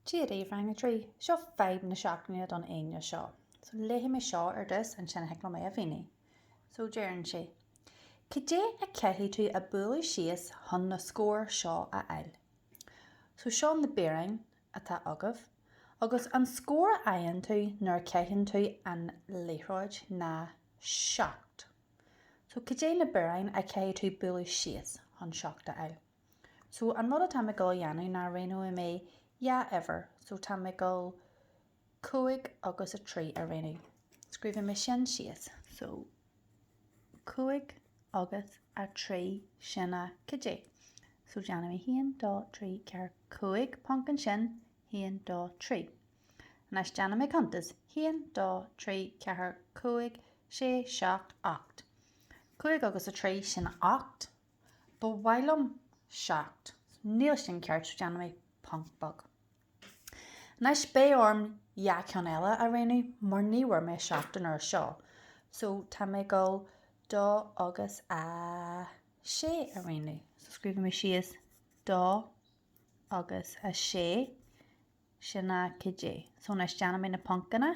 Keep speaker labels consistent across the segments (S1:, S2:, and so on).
S1: Dia daoibh Rang 3, Seo fadhb na seachtaine don Aoine seo. So léifidh mé seo ar dtús ansin thig liom é a mhíniú. So deireann sé, Cad é a caithfidh tú a bualadh síos chun na scóir seo a fháil? So seo na bioráin atá agaibh agus an scór a fhaigheann tú nuair a caitheann tú an liathróid ná seacht. So cad é na bioráin a chaithfidh tú bualadh síos chun seacht a fháil? So, an rud atá mé ag dul a dhéanamh ná roghnóidh mé dhá uimhir, so tá mé ag dul cúig agus a trí a roghnú. Scríobhfaidh mé sin síos. So, cúig agus a trí, sin a, cad é? So déanfaidh mé haon, dó, trí, ceathair, cúig ponc ansin, haon, dó, trí. Anois déanfaidh mé cuntas, haon, dó, trí, ceathair, cúig, sé, seacht, ocht. Cúig agus a trí, sin a ocht. Ba mhaith liom seacht. Níl sin ceart, déanfaidh mé ponc beag. Anois, beidh orm dhá cheann eile a roghnú mar ní bhfuair mé seacht an uair seo, so tá mé ag dul dó agus a sé a roghnú. So scríobhfaidh mé síos dó agus a sé, sin a, cad é. So anois déanfaidh mé na poncanna.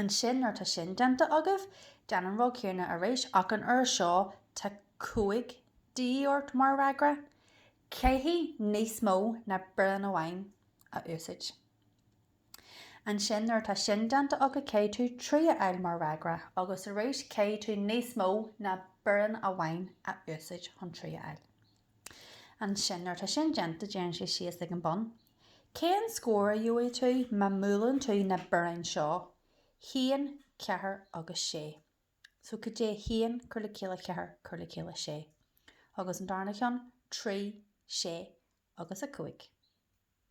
S1: Ansin, nuair atá sin déanta agaibh, déan an rud céanna arís, ach an uair seo tá 5 de dhíth ort mar fhreagra. Caithfidh níos mó ná biorán amháin a úsáid. Ansin, nuair atá sin déanta agat, caithfidh tú 3 a fháil mar fhreagra, agus arís caithfidh tú níos mó ná biorán amháin a úsáid chun 3 a fháil. Ansin, nuair atá sin déanta, deireann sé síos ag an bun, Cén scór a gheobhaidh tú má mbuaileann tú na bioráin seo? haon, ceathair agus sé. So, cad é? haon, cur le chéile ceathair, cur le chéile sé. Agus an darna cheann? trí, sé agus a cúig.